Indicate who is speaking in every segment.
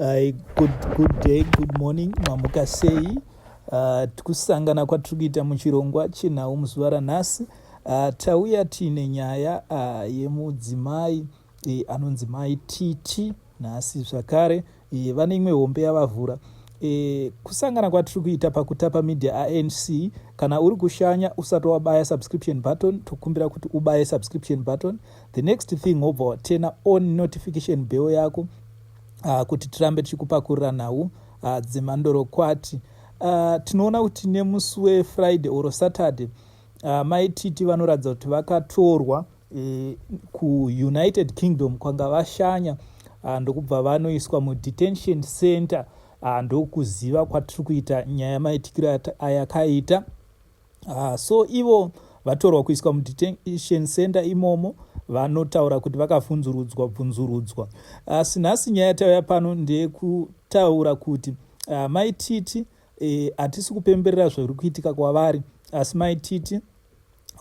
Speaker 1: Hi, good, good day, good morning, mamuka sei? Uh, tikusangana kwatiri kuita muchirongwa chenhau muzuva ranhasi uh, tauya tiine nyaya uh, yemudzimai e, anonzi mai titi nhasi zvakare e, vane imwe hombe yavavhura e, kusangana kwatiri kuita pakutapa media anc kana uri kushanya usati wabaya subscription button tokumbira kuti ubaye subscription button the next thing wobva watena on notification bell yako uh, kuti tirambe tichikupakurira nhau uh, ah, dzemandorokwati uh, ah, tinoona kuti nemusi wefriday or saturday uh, mai titi vanoratidza kuti vakatorwa e, kuunited kingdom kwanga vashanya uh, ndokubva vanoiswa mudetention center uh, ndokuziva kwatiri kuita nyaya maitikiro ayakaita Ah, so ivo vatorwa kuiswa mudetention center imomo vanotaura kuti vakavhunzurudzwa bvunzurudzwa asi ah, nhasi nyaya yatauya pano ndeyekutaura kuti ah, mai titi eh, hatisi e, kupemberera zviri kuitika kwavari asi mai titi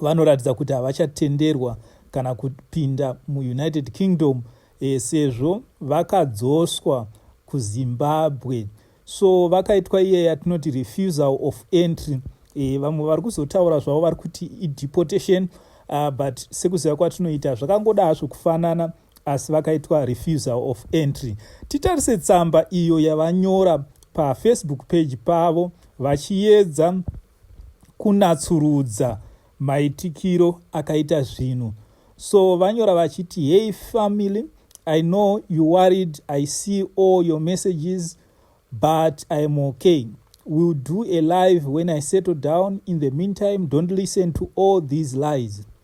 Speaker 1: vanoratidza kuti havachatenderwa kana kupinda muunited kingdom e, sezvo vakadzoswa kuzimbabwe so vakaitwa iye yatinoti refusal of entry e, vamwe vari kuzotaura zvavo vari kuti ideportation uh, but sekuziva kwatinoita zvakangoda hazvo kufanana asi vakaitwa refusal of entry titarise tsamba iyo yavanyora pafacebook page pavo vachiyedza kunatsurudza maitikiro akaita zvinhu so vanyora vachiti hey family i know you worried i see all your messages but iam okay will do a live when i settle down in the meantime don't listen to all these lies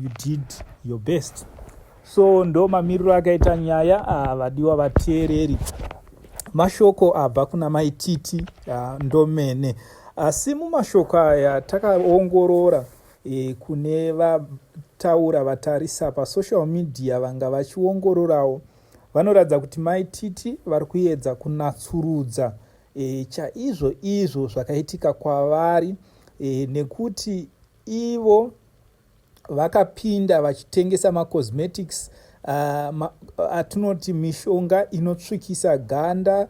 Speaker 1: you did your best so ndo mamiriro akaita nyaya ah, vadiwa vateereri mashoko abva kuna maititi ah, ndomene asi mumashoko aya takaongorora e, kune vataura vatarisa pasocial media vanga vachiongororawo vanoratidza kuti maititi vari kuedza kunatsurudza e, chaizvo izvo zvakaitika kwavari e, nekuti Ivo vakapinda vachitengesa macosmetics ah, atinoti uh, uh, mishonga inotsvukisa ganda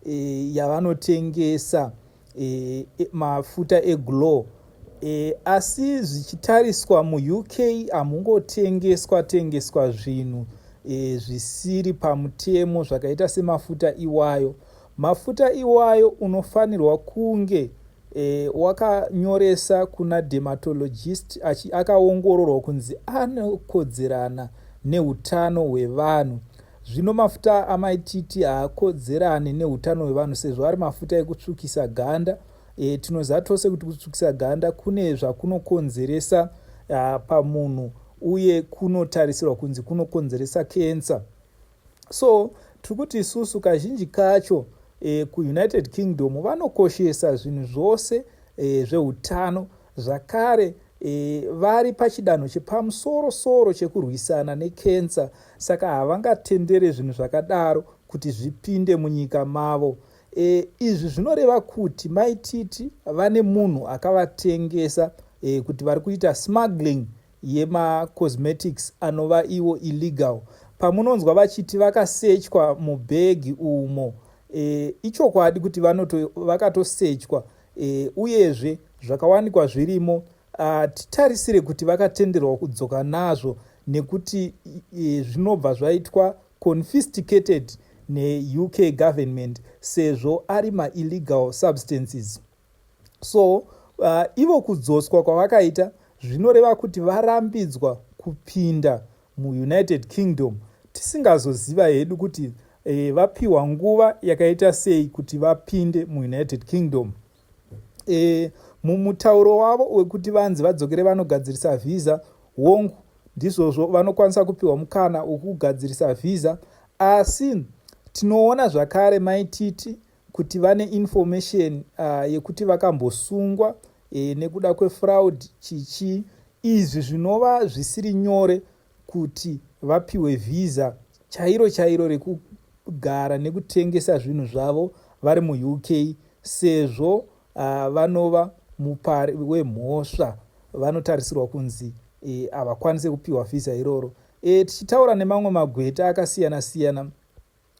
Speaker 1: eh, yavanotengesa eh, e, mafuta eglow eh, asi zvichitariswa muuk hamungotengeswa tengeswa zvinhu eh, zvisiri pamutemo zvakaita semafuta iwayo mafuta iwayo unofanirwa kunge e, wakanyoresa kuna dermatologist achi akaongororwa kunzi anokodzerana neutano hwevanhu zvino mafuta amaititi haakodzerane neutano hwevanhu sezvo ari mafuta ekutsvukisa ganda e, tinoziva tose kuti kutsvukisa ganda kune zvakunokonzeresa pamunhu uye kunotarisirwa kunzi kunokonzeresa kensa so tiri kuti isusu kazhinji kacho e, kuunited kingdom vanokoshesa zvinhu zvose e, zveutano zvakare e, vari pachidanho chepamusoro soro chekurwisana nekensa saka havangatendere zvinhu zvakadaro kuti zvipinde munyika mavo e, izvi zvinoreva kuti maititi vane munhu akavatengesa e, kuti vari kuita smuggling yema cosmetics anova iwo illegal pamunonzwa vachiti vakasechwa mubhegi umo e, ichokwadi kuti vanoto vakatosechwa e, uyezve zvakawanikwa zvirimo ah, titarisire kuti vakatenderwa kudzoka nazvo nekuti e, zvinobva zvaitwa confiscated neuk government sezvo ari maillegal substances so uh, ivo kudzoswa kwavakaita zvinoreva kuti varambidzwa kupinda muunited kingdom tisingazoziva hedu kuti e, vapiwa nguva yakaita sei kuti vapinde muunited kingdom e, mumutauro wavo wekuti vanzi vadzokere vanogadzirisa vhiza wongu ndizvozvo vanokwanisa kupiwa mukana wokugadzirisa vhiza asi tinoona zvakare maititi kuti vane information uh, yekuti vakambosungwa e, nekuda kwefraud chichi izvi zvinova zvisiri nyore kuti vapiwe vhiza chairo chairo rekugara nekutengesa zvinhu zvavo vari muuk sezvo uh, vanova mupari wemhosva vanotarisirwa kunzi e, havakwanise kupiwa vhiza iroro e, tichitaura nemamwe magweta akasiyana siyana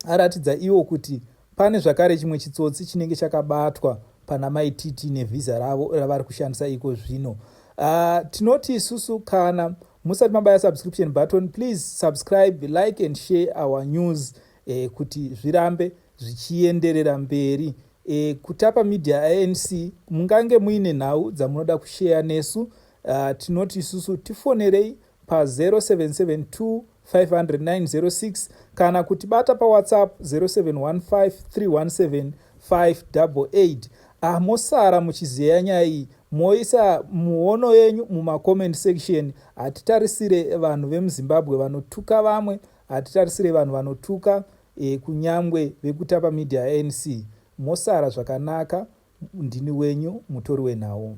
Speaker 1: aratidza iwo kuti pane zvakare chimwe chitsotsi chinenge chakabatwa pana mai tt nevhiza ravo ravari kushandisa iko zvino uh, tinoti isusu kana musati mabaya subscription button please subscribe like and share our news eh, kuti zvirambe zvichienderera mberi eh, kutapa media anc mungange muine nhau dzamunoda kusheya nesu uh, tinoti isusu tifonerei pa 0772 500906 kana kuti bata pawhatsapp 0715317588 ah mosara muchizeya nyaya iyi moisa muono yenyu mumacomment section hatitarisire vanhu vemuzimbabwe vanotuka vamwe hatitarisire vanhu vanotuka e, kunyangwe vekutapa media yanc mosara zvakanaka ndini wenyu mutori wenhau